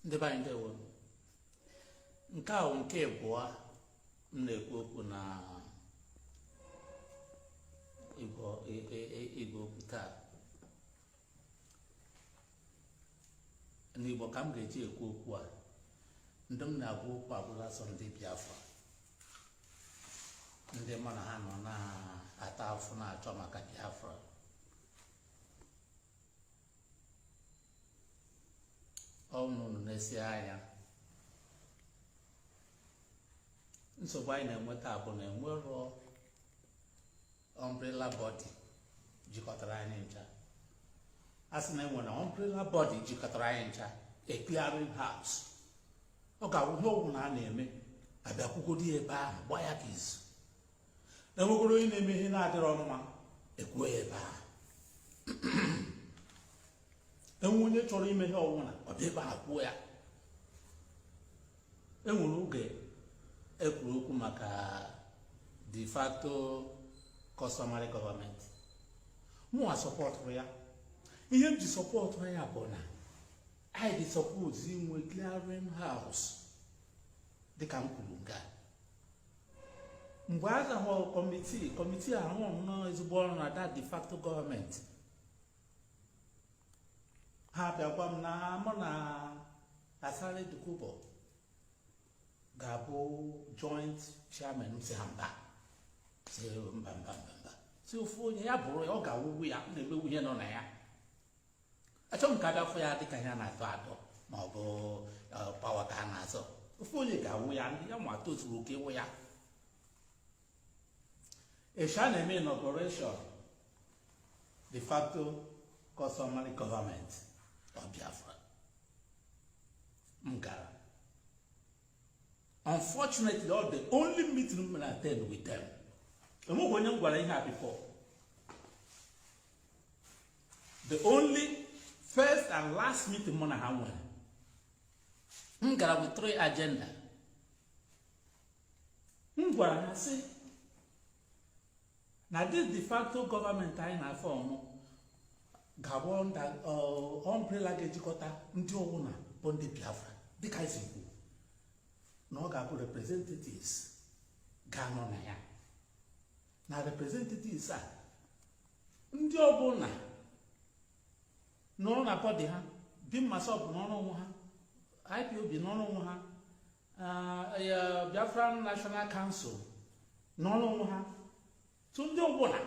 ndị be anyị ndewo nke a wụ nke abụọ m na-ekwu okwu na igwe okwu taa n'igbo ka m ga-eji ekwu okwu a ndị m na-agwa okwu abụla sọ ndị biafra ndị mụ na ha nọ na-ata afụ na-achọ maka biafra ọ wụ unu nesie anya nsogbu anyị na-enweta bụ na enwerọ umbrella body jikọtara anyị ncha a sị na enwere umbrella body jikọtara anyị ncha a clearing house ọ ga-awụ ihe ọwụna a na-eme a bịa kwukọdị ebe ahụ gbaa ya ka izu enwekwara onye na-eme ihe na-adịrọ mma ekwuo ya ebe ahụ enwe onye chọrọ ime ihe ọwụna ọ bịa ebe a kwuo ya enwere oge ekwuru okwu maka de facto customary government mụwa supportụrụ ya ihe m ji support ya bụ na anyị dị suppose inwe clearing house dịka m kwuru nga mgbe a za-ahọ committee committee ahụ rụrụ nnọọ ezigbo ọrụ na that de facto government ha bịa gwa m na mụ na Asari Dokubo ga-abụ joint chairman sị ha mba sị mba mba mba mba sị ofu onye ya bụrụ ya ọ ga-awụwu ya na-emewu ihe nọ na ya achọghị m ka a bịa fụ ya dịka ihe a na-atọ atọ ma ọ bụ power ka a na-azọ ofu onye ga-awụ ya ndị ya ma tozuru oke ịwụ ya eshi a na-eme inauguration de facto customary government of Biafra m gara unfortunately all the only meeting m mere attend with them enweghị onye m gwara ihe a before the only first and last meeting mụ na ha nwere m gara with three agenda m gwara ha sị na this de facto government anyị na-aform ga-abụ that umbrella uh, ga-ejikọta ndị ọwụna bụ ndị biafra dịka anyị si kwuo na ọ ga-abụ representatives ga-anọ na ya na representatives a ndị ọbụla nọrọ na bọdị ha bim massob nọrọ onwe ha ipob nọrọ onwe ha uh, biafra national council nọrọ onwe ha so ndị ọbụla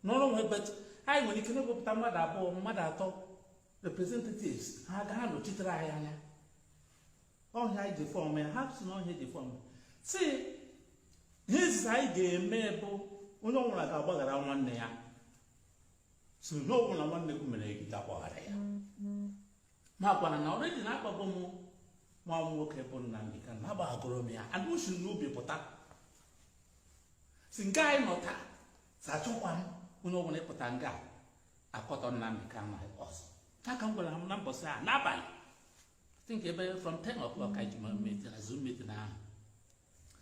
nọrọ onwe bet anyị nwere ike na-ewepụta mmadụ abụọ mmadụ atọ representatives ha ga-anọchitere anyị anya ọ ihe anyị ji fọm ya ha si na ọ ihe e ji fọm si ihe izizi anyị ga-eme bụ onye ọbụla ga-agbaghara nwanne ya si onye ọbụla nwanne gị mere gị ga-agbaghara ya ma gwa ha na already na agbaghago m nwa m nwoke bụ Nnamdi Kanu na agbaghagoro m ya anụ si n'obi pụta si nke anyị nọ taa si achọkwa m onye ọbụla ịpụta nga akọtọ Nnamdi Kanu ọzọ ya ka m gwara ha na mbọsị a n'abalị think ebe from 10 o'clock ka anyị ji meet na zoom meeting ahụ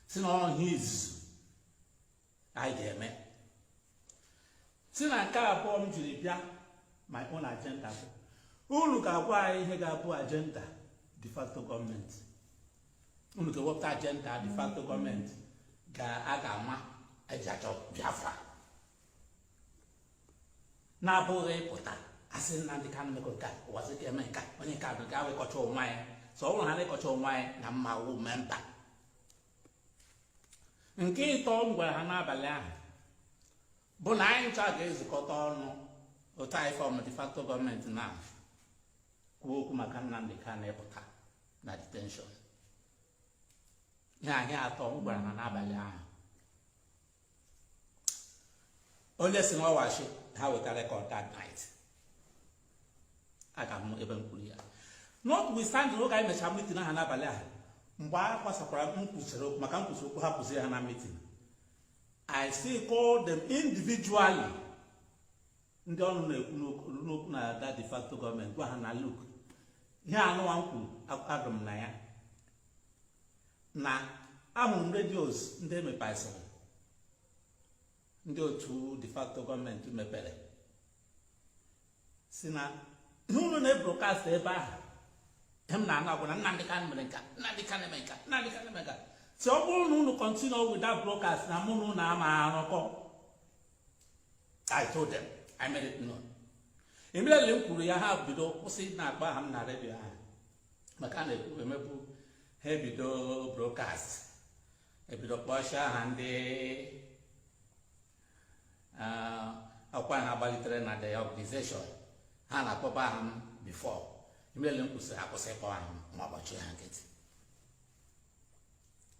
si na ọ ihe izizi anyị ga-eme si na nke abụọ m jiri bịa my own agenda bụ unu ga-agwa anyị ihe ga-abụ agenda de facto gọọmenti unu ga-ewepụta agenda de facto gọọmenti ga a ga-ama eji achọ Biafra na-abụghị ịpụta asị Nnamdị Kanụ mekọ nke a Ụwazuruike eme nka onye nke abụ gaa wee kọcha onwe anyị so ọ bụrụ ha na-akọcha onwe anyị na m ma-awu memba nke ịtọ m gwara ha n'abalị ahụ bụ na anyị ncha ga-ezukọta ọnụ otu anyị fọm de facto gọọmenti na-ekwu okwu maka Nnamdị Kanụ ịpụta na detenshọn ihe atọ m gwara ha n'abalị ahụ onye si na ọ wụ ashị ha weta rekọd that night aga m ebe m kwuru ya notwithstanding oge anyị mechara mitin aha n'abalị ahụ mgbe a gbasakwara m kwuchara okwu maka m kwuchara okwu ha kwụsịrị ha na mitin I still call them individually ndị ọnụ na-eru n'okwu na that de facto gọọmenti gwa ha na luk ihe anụwa m kwuru akwụ m na ya na ahụrụ m redios ndị emepesịrị ndị otu de facto gọọmenti mepere si na ihe unu na-ebrokast ebe ahụ ihe m na-anụ bụ na Nnamdị Kanụ mere nka Nnamdị Kanụ mere nka Nnamdị Kanụ mere nka si ọ bụrụ na unu kọntinu with that broadcast na mụ na unu ama arụkọ I told them I made it known immediately m kwuru ya ha bido kwụsị na-akpọ aha m na redio ahụ maka a na-ekwu emebu ha ebido brokast ebido kpọsie aha ndị ọkwa ha gbalitere na the organization ha na-akpọba aha m bifọ immediately m kwusịrị akwụsị ịkpọ aha m ma agbachi ha nkịtị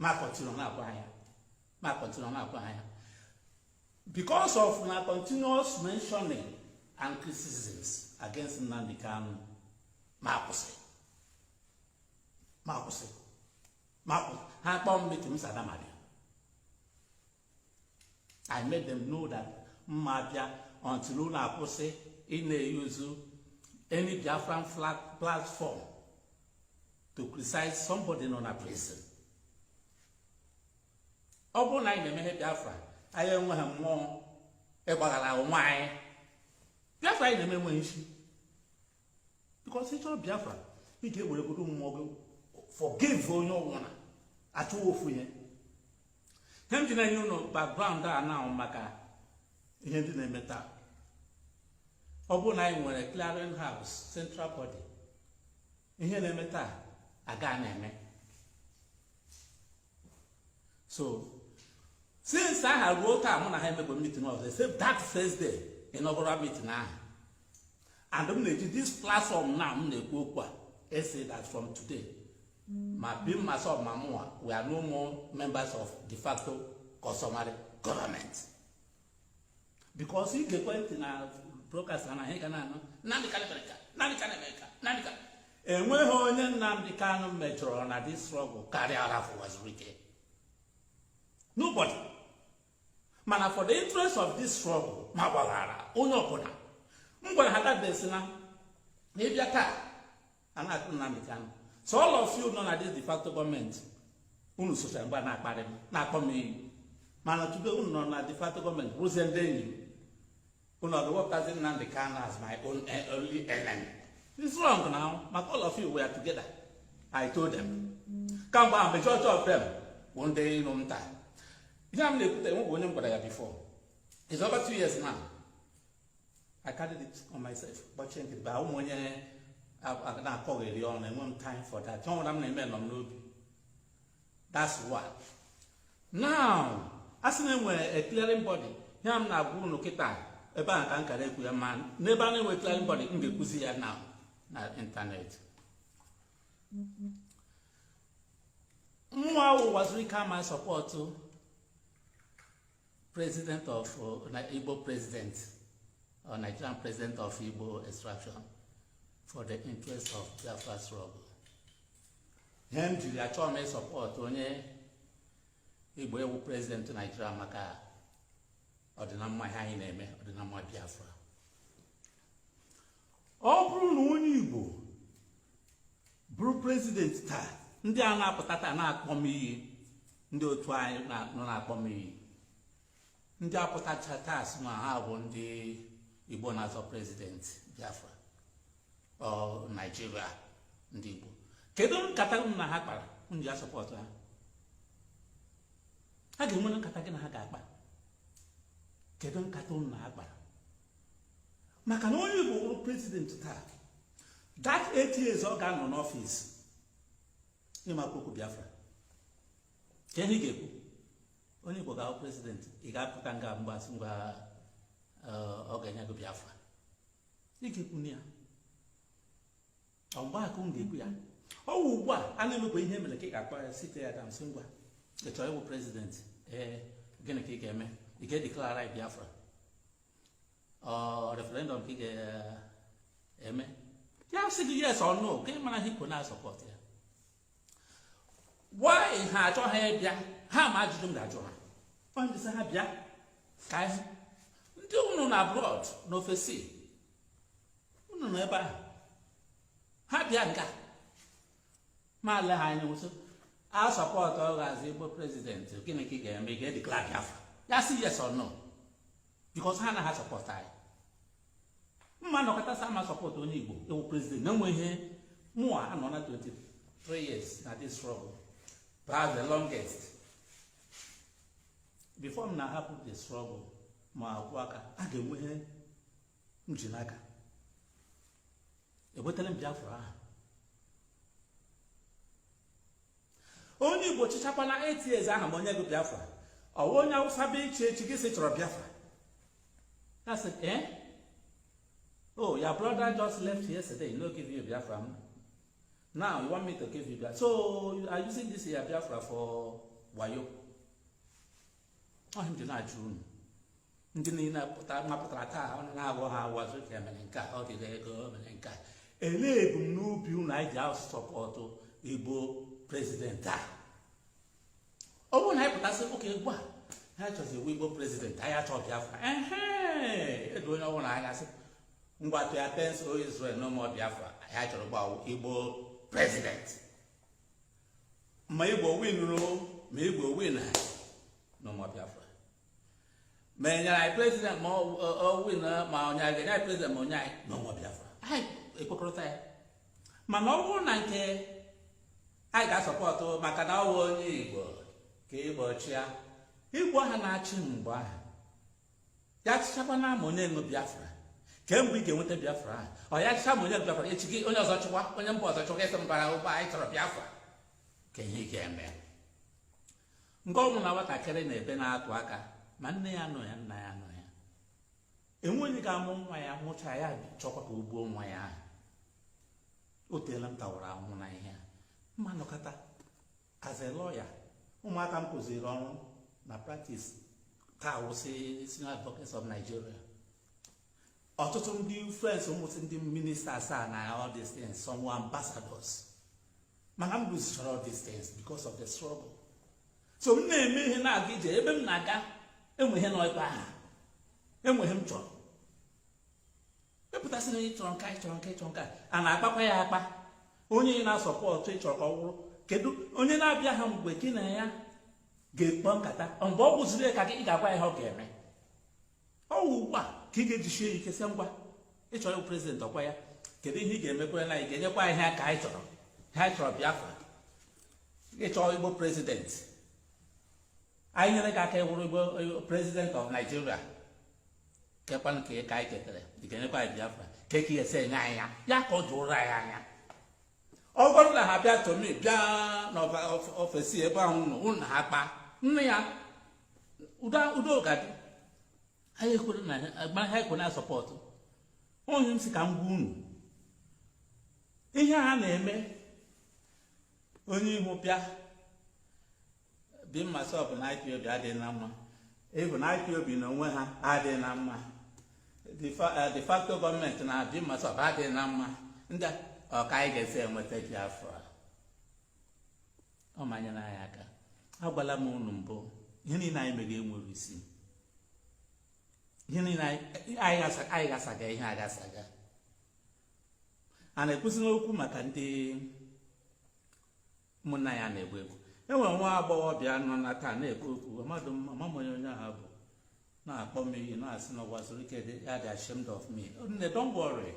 ma kọntinu na-agwa ha ya ma kọntinu na-agwa ha ya because of unu continuous mentioning and criticisms against Nnamdi Kanu mụ akwụsị mụ akwụsị mụ akwụsị ha kpọọ m meeting m sị ada m abịa I made them know that m ma bịa until unu akwụsị ị na-e use any Biafran flag platform to criticize somebody nọ na prison ọ bụrụ na anyị na-eme ihe Biafra anyị enweghị mmụọ ịgbaghara onwe anyị Biafra anyị na-eme enweghị isi because ị chọrọ Biafra ị ga-ewere godu mmụọ gị forgive onye ọbụla a chụwa ofu ihe ihe m ji na-enye unu background a now maka ihe ndị na-eme taa ọ bụrụ na anyị nwere clearing house central body ihe na-eme taa aga na-eme so since ahụ ruo taa mụ na ha emekwa meeting ọzọ except that first day inaugural meeting ahụ and m na-eji this platform na m na-ekwu okwu a asị that from today ma BIM MASSOB ma mụwa we are no more members of de facto customary government because i geekwa ntị na broadcast naanị ihe ị ga na-anụ Nnamdi Kanu mere ka Nnamdi Kanu mere ka Nnamdi Kanu enweghị onye Nnamdi Kanu mejọrọ na this struggle karịa Ralph Uwazuruike nobody mana for the interest of this struggle m agbaghara onye ọbụla m gwara ha that day sị na n'ịbịa taa a na-akụ Nnamdi Kanu so all of you nọ na this de facto government unu sochara mgbe a na-akparị m na-akpọ m iyi mana tupu unu nọ na de facto government bụrụzie ndị enyi m unu ọdụ wepụtazi Nnamdi Kanu as my own eh, only enemy it's wrong now maka all of you were together I told them kamgbe ahụ majority of them bụ ndị iro m taa ihe a m na-ekwute enwebu onye m gwara ya before it's over two years now I carried it on myself gbachie nkịtị but awụ m onye na-akọgheri ọnụ enwe m time for that ihe ọbụla m na-eme nọ m n'obi that's one now a sị na enwere a clearing body ihe a m na-agwa unu kịta ebe a ka m kara ekwu ya mana ebe a na-enwe clearing body m ga-ekwuzi ya na na internet mụwa wụ Uwazuruike ama support president of uh, Igbo president or Nigerian president of Igbo extraction for the interest of Biafra struggle ihe m jiri achọ m ị support onye igbo ịbụ president Nigeria maka ọdịnamma ihe anyị na-eme ọdịnamma biafra ọ bụrụ na onye igbo bụrụ president taa ndị a na-apụta taa na-akpọ m iyi ndị otu anyị nọ na-akpọ m iyi ndị a pụtacha taa sị na ha bụ ndị igbo na-azọ president biafra ọ nigeria ndị igbo kedu nkata unu na ha kpara i ji asọpọtụ ha ha ga-enwere nkata gị na ha ga-akpa kedu nkata unu na ha kpara maka na onye Igbo bụrụ president taa that eight years ọ ga-anọ n'ọfịs ịmakwa okwu Biafra ka ihe ga-ekwu onye Igbo ga-awụ president ị ga-apụta nga mgbasị ngwa ọ ga-enye gị Biafra ị ga-ekwu na ya ọ ugbu a ka ị ga-ekwu ya ọ wụ ugbu a a na-emekwa ihe mere ka ị ga-akpọ ya sit ya down sị ngwa ị chọrọ ịwụ president ee gịnị ka ị ga-eme ị ga-edeklara Biafra referendum ka ị ga-eme ya sị gị yes or no ka ị mara ihe i kwo na-asọpọt ya why ha achọghị ịbịa ha ma ajụjụ m ga-ajụ ha ọ ndị sị ha bịa ka anyị ndị unu na abroad n'ofesi unu nọ ebe ahụ ha bịa nga ma le ha anya sị a sọpọtụ ọ ga-azọ igbo president gịnị ka ị ga-eme ị ga-edeklara biafra ya sị yes or no because ha anaghị asọpọtụ anyị m ma nọkata sị m asọpọtụ onye igbo ịwụ president na enwe ihe mụa anọna 23 years na this struggle perhaps the longest before m na-ahapụ the struggle ma akwụ aka a ga-enwe ihe m ji n'aka enwetara m biafra ahụ onye igbo chịchakwana eight years aha ma enye gị biafra ọ wụ onye awụsa bịa ịchị echi gị sị ị chọrọ biafra ya sị ee eh? oh your brother just left yesterday no give you biafra now you want me to give you biafra so you are using this your biafra for wayo ọ ihe m ji na-ajụ unu ndị niile mapụtara taa ọ na-aghọ ha awa ka emere nke a ọ dịghị ego mere nke a elee ebumnobi unu anyị ji asọpọtụ igbo president a ọ bụrụ na anyị pụta sị okay ugbu a ihe anyị chọzi wụ igbo president anyị achọ biafra edo onye ọbụla anya sị ngwa to your tents o Israel no more biafra anyị chọrọ ugbu a wụ igbo president ma igbo winiri o ma igbo win no more biafra ma enyere anyị president ma ọ win ma onye anyị ga-enye anyị president ma enyeghị anyị no more biafra anyị ekwekọrịta ya mana ọ bụrụ na nke anyị ga-asọpọtụ maka na ọ wụ onye igbo ka igbo chịa igbo ha na-achị mgbe ahụ ya chịchakwa na ama onye nwe biafra kee mgbe ị ga-enweta biafra ahụ ọ ya chịcha ma onye nwe biafra echi gị onye ọzọ chịkwa onye mba ọzọ chịkwa ịsị mbara ụgbọ anyị chọrọ biafra kee ihe ị ga-eme nga ọ bụla nwatakịrị na-ebe na-atụ aka ma nne ya anọ ya nna ya nọ ya enweghị onye ga-amụ nwa ya mụcha ya chọkwa ka o gbuo nwa ya ahụ o teela m tawara ahụhụ na ihe a ma m nọkata as a lawyer ụmụaka m kụziri ọrụ na practice taa wụsị senior advocates of Nigeria ọtụtụ ndị friends m wụsị ndị ministers na all these things some were ambassadors mana m losechara all these things because of the struggle so m na-eme ihe na-aga ije ebe m na-aga enwe ihe nọ ebe ahụ enwe ihe m chọrọ ị pụta sị na onye chọrọ nke a ị chọrọ nke a ị chọrọ nke a a na-akpakwa ya akpa onye na-asọpọtụ ị chọrọ ka ọ wụrụ kedu onye na-abịa ha mgbe gị na ya ga-akpa nkata mgbe ọ wụziri ka gị ga-agwa ya ihe ọ ga-eme ọ wụ ugbu a ka ị ga-ejisie ya ike sị ngwa ị chọrọ president ọkwa ya kedu ihe ị ga-emekwere na anyị ga-enyekwa anyị ha ka anyị chọrọ ha anyị chọrọ Biafra ị chọọ igbo president anyị nyere gị aka ị wụrụ igbo president of Nigeria keekwa nke ka anyị ketara ị ga-enyekwa anyị biafra kee ka ị ga-esi enye anyị ya ya ka o doro anyị anya ọ bụrụ na ha bịa to me bịa n'ofesi ebe ahụ nọ unu na ha akpa nne ya udo ga-adị anyị ekwere na agba ha ekwe na support onye m si ka m gwa unu ihe a na-eme onye ihu bịa BIM MASSOB na IPOB adịghị na mma even IPOB na onwe ha adịghị na mma de facto government na BIM MASSOB adịghị na mma ndị ọ ka anyị ga-esi enweta Biafra ọ ma enyere anyị aka agwala m unu mbụ ihe niile anyị mere enwere isi ihe niile anyị gasaga ihe agasaga a na-ekwuzi n'okwu maka ndị ụmụnna anyị a na-egbu egbu e nwere nwa agbọghọbịa nọ na taa na-ekwu okwu mmadụ amaghị m onye onye ahụ bụ na-akpọ m iyi na-asị na Ụwazuruike that ya dị ashamed of me nne don't worry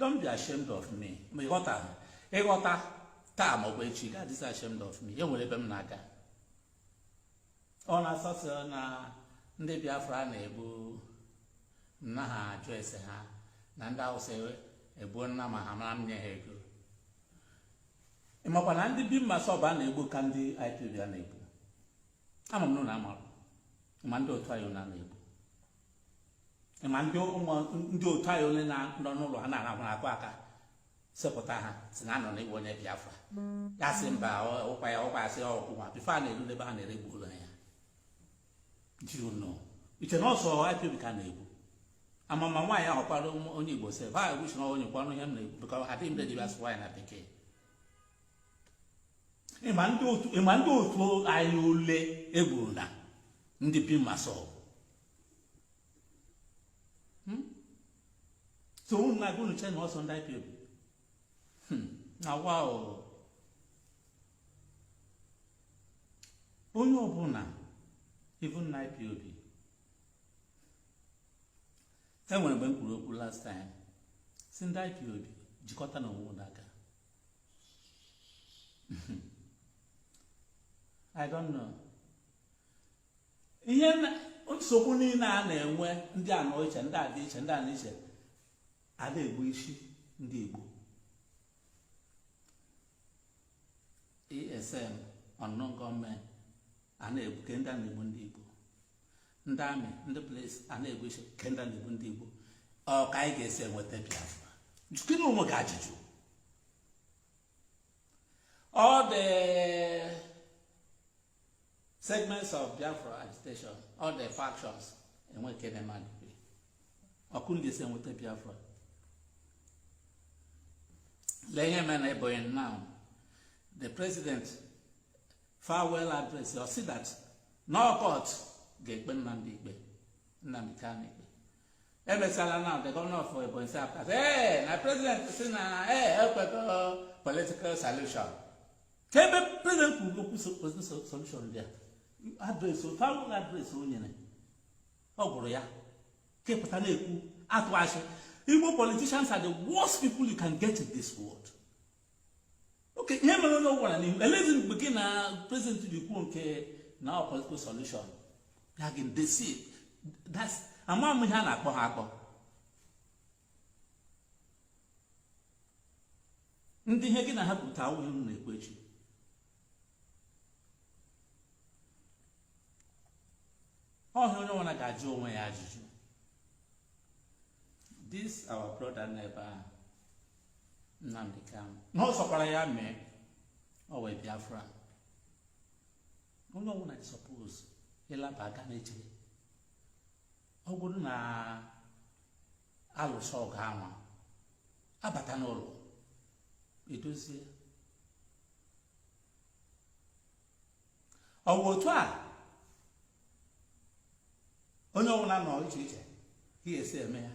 don't be ashamed of me ma ị ghọta ị ghọta taa maọbụ echi ị gaghị adịzi ashamed of me e nwere ebe m na-aga ọ na-asọsị na ndị biafra na-egbu na ha ajụ ese ha na ndị awụsa egbuo na ma ha mara m nye ha ego ị makwa na ndị BIM MASSOB a na-egbu ka ndị IPOB a na-egbu ama m na unu amarụ ma ndị otu anyị a na-egbu ma ndị otu anyị ole na-anọ n'ụlọ ha na-arahụ a kụọ aka sepụta ha sị na a nụ na ị bụ onye Biafra ya sị mba ụkwa ya ụkwa ya sị ọkwụwa before a na-eru n'ebe a na-eje egbuola ya i che na ọ sọ IPOB ka a na-egbu amama nwaanyị ahụ kwara onye Igbo sef ha egwuchi na onye kwanụ ihe m na-ekwu bụka ha dị mbe dịbịa sụwa ya na bekee ị ma ndị otu anyị ole e gburu na ndị BIM MASSOB hmm? so unu na-agụ unu che na ọ sọ ndị IPOB hmm. na wa onye ọbụla even na IPOB e nwere mgbe m kwuru okwu last time sị ndị IPOB jikọtanụ onwe unu aka I don't know ihe nsogbu niile a na-enwe ndị a nọ iche ndị a dị iche ndị a nọ iche a na-egbusi ndị Igbo ESN unknown gunmen a na-egbu ke ndị a na-egbu ndị Igbo ndị amị ndị polisi a na-egbusi ke ndị a na-egbu ndị Igbo ọ ka anyị ga-esi enweta Biafra jụkenụ onwe gị ajụjụ all the segments of biafra agitation all the factions enwe nke na-eme agụgụ ọ ka unu ga-esi enweta biafra lee ihe mere na ebonyi now the president farewell address ọ sị that na ọ court ga-ekpe Nnamdi ikpe Nnamdi Kanu ikpe emesịala now the governor of Ebonyi State apụta sị ee na president sị na ee ekwego political solution kee ebe president kwuru okwu solution dị ya address ọ farewell address o nyere ọ gụrụ ya kepụta na-ekwu atụ asị Igbo politicians are the worst people you can get in this world okay ihe mere onye ọgwara n'ihu elezi mgbe gị na prezidenti ji kwuo nke na ọ political solution ya gị desi ama m ihe a na-akpọ ha akpọ ndị ihe gị na ha kwu taa awụghị ihe na-ekwu echi ọ ihe onye ọbụla ga-ajụ onwe ya ajụjụ this our brother nọ ebe ahụ Nnamdi Kanu na ọ sọkwara ya mee ọ wee Biafra onye ọbụla suppose ịlaba aga na-eche ọ bụrụ na a lụsịa ọgụ ahụ abata n'ụlọ edozie ọ bụ otu a onye ọbụla nọ iche iche ihe esi eme ya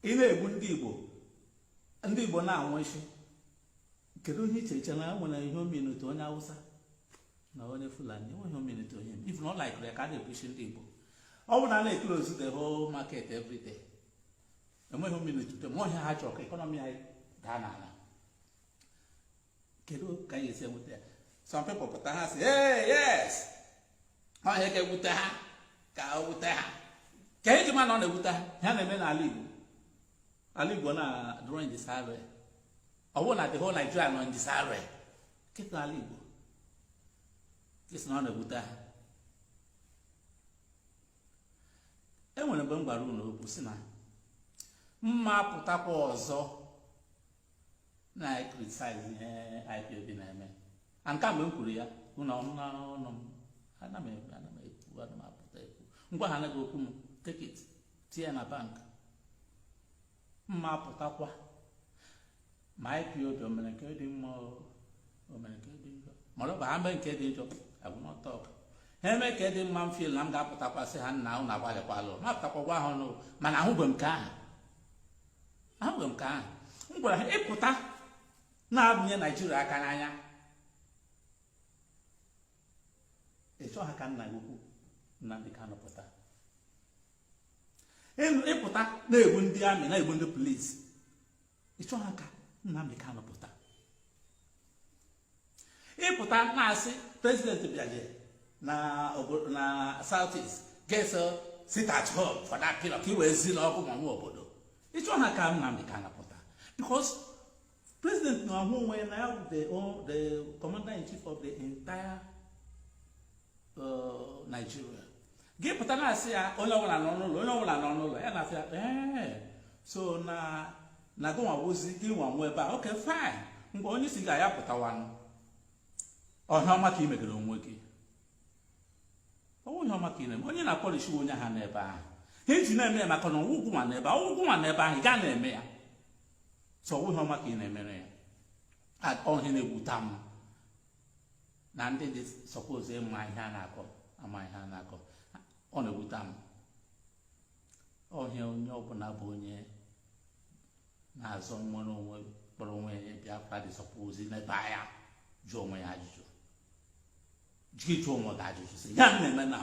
ị na-egbu ndị igbo ndị igbo na-anwụsị kedu ihe i ji eche na e nwere ihe o metụta onye awụsa na onye fulani enweghị ihe o metụta onye if unu like ya ka a na-egbusi ndị igbo ọ bụ na a na-eclose the whole market every day enweghị ihe o metụta ma ọ bụ ihe ha chọrọ ka economy anyị daa n'ala kedu ka ihe a esi ewuta ha some people pụta ha sị ee yes ọ bụ ihe ga-ewute ha ka o wute ha ka eji ma na ọ na-ewute ha ihe a na-eme n'ala Igbo ala Igbo nọdụrụ in disarray ọ bụ na the whole Nigeria nọ in disarray kịta ala Igbo ka ị sị na ọ na-ewute ha enwere mgbe m gwara unu okwu sị na m ma apụtakwa ọzọ na-ecriticize ihe IPOB na-eme a nke mgbe m kwuru ya unu ọ nụ n'ọnụ m ana m ekwu ana m ekwu ana m apụta ekwu m gwa ha anaghị okwu m take it tinye na bank m ma apụtakwa ma IPOB o mere nke dị mma o mere nke dị njọ mana ọ bụ ha mee nke dị njọ agwụmọtọ ọka ha eme nke dị mma m feel na m ga-apụtakwa sị ha nna unu agbalịkwalụ ma apụtakwa gwa ha ọnụ mana ahụbeghị m nke ahụ ahụghị m ka ahụ m gwara ha ị pụta na-abụnye Nigeria aka n'anya ị chọghị ka nna gị ukwu Nnamdi Kanu pụta ị pụta na-egbu ndị army na-egbu ndị police ị chọghị ka Nnamdi Kanu pụta ị pụta na-asị president bịaje na south east ga-esit at home for that period ka i wee zi na ọkwa mụ nwe obodo ị chọghị ka Nnamdi Kanu pụta because president na-ahụ onwe ya na ya bụ the commander in chief of the entire Nigeria gị pụta na-asị ya onye ọbụla nọ n'ụlọ onye ọbụla nọ n'ụlọ ya na-asị ya ee so na na gị nwa wụzi gị nwa nwe ebe a okay fine mgbe onye isi gị ya pụtawanụ ọ bụ ihe ọma ka ị megere onwe gị ọ wụghị ihe ọma ka ị na-eme onye na-akpọlichi onye ha n'ebe ahụ ha eji na-eme ya maka na ọ wụ gị nwa nọ ebe ahụ ọ wụ gị nwa nọ ebe ahụ ị gaa na-eme ya so ọ wụghị ihe ọma ka ị na-emere ya ọ bụ ihe na-ewuta m na ndị dị suppose ịma ihe a na-akọ amaghị ihe a na-akọ ọ na-ewute m ọ bụ ihe onye ọbụla bụ onye na-azọ nnwere onwe kpọrọ onwe ya Biafra dị suppose nebaa anya jụọ onwe ya ajụjụ jụọ ịjụ onwe gị ajụjụ sị ihe a na-eme na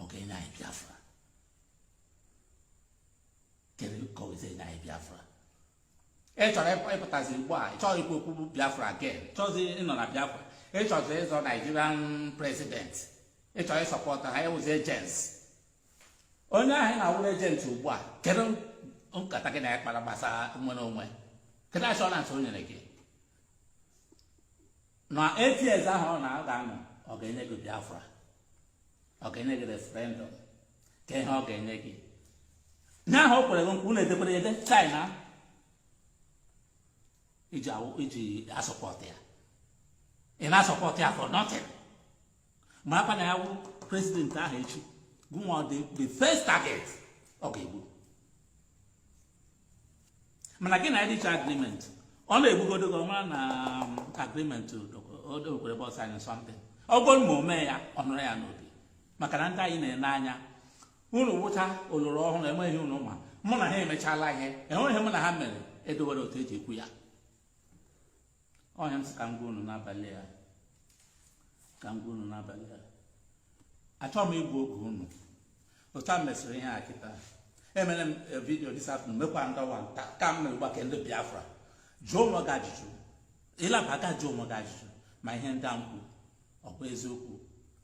ọ ga-enye anyị Biafra kedu ka ọ ga-esi enye anyị Biafra ị chọrọ ịpụtazi ugbu a ị chọrọ ikwu okwu biafra again chọzi ịnọ na biafra ị chọzi ịzọ nigerian president ị chọrọ ịsupport ha ị wụzi agent onye ahụ ị na-awụrụ agent ugbu a kedu nkata gị na ya kpara gbasara nnwere onwe kedu assurance o nyere gị na eight years ahụ ọ na-aga anọ ọ ga-enye gị biafra ọ ga-enye gị referendum kee ihe ọ ga-enye gị onye ahụ o kwere gị nkwa unu edekwere ya ede china iji awụ- iji asupport ya ị na-asupport ya for nothing makwa na ya wụ president ahụ echi gụnwa the the first target ọ ga-egbu mana gị na ya decha agreement ọ na-egbugodo gị ọ ma na um, agreement o dekwere bọs anyị something ọ bụrụ ma o mee ya ọ nọrọ ya n'obi maka na ndị anyị na-ele anya unu wụcha oloro ọhụrụ enweghị ihe unu ma mụ na ha emechala ihe enwere ihe mụ na ha mere edowere otu eji ekwu ya ọ ya m sị ka m gwa unu n'abalị a ka m gwa unu n'abalị a achọghị m igbu oge unu otu a mesịrị ihe a kịta emere m eh, video this afternoon mekwa ndọwa nta ka m mere gbake ndị biafra jụọ onwe gị ajụjụ ịlaba aka jụọ onwe gị ajụjụ ma ihe ndị a m kwuru ọ bụ eziokwu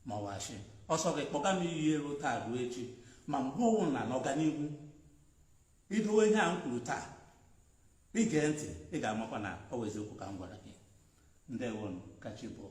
ma ọ wụ asị ọ sọ gị kpọga m iyi elu taa ruo echi ma mgbe ọ wụna n'ọganihu i dowe ihe a m kwuru taa i gee ntị ị ga-amakwa na ọ bụ eziokwu ka m gwara gị ndewonụ ka chi bọọ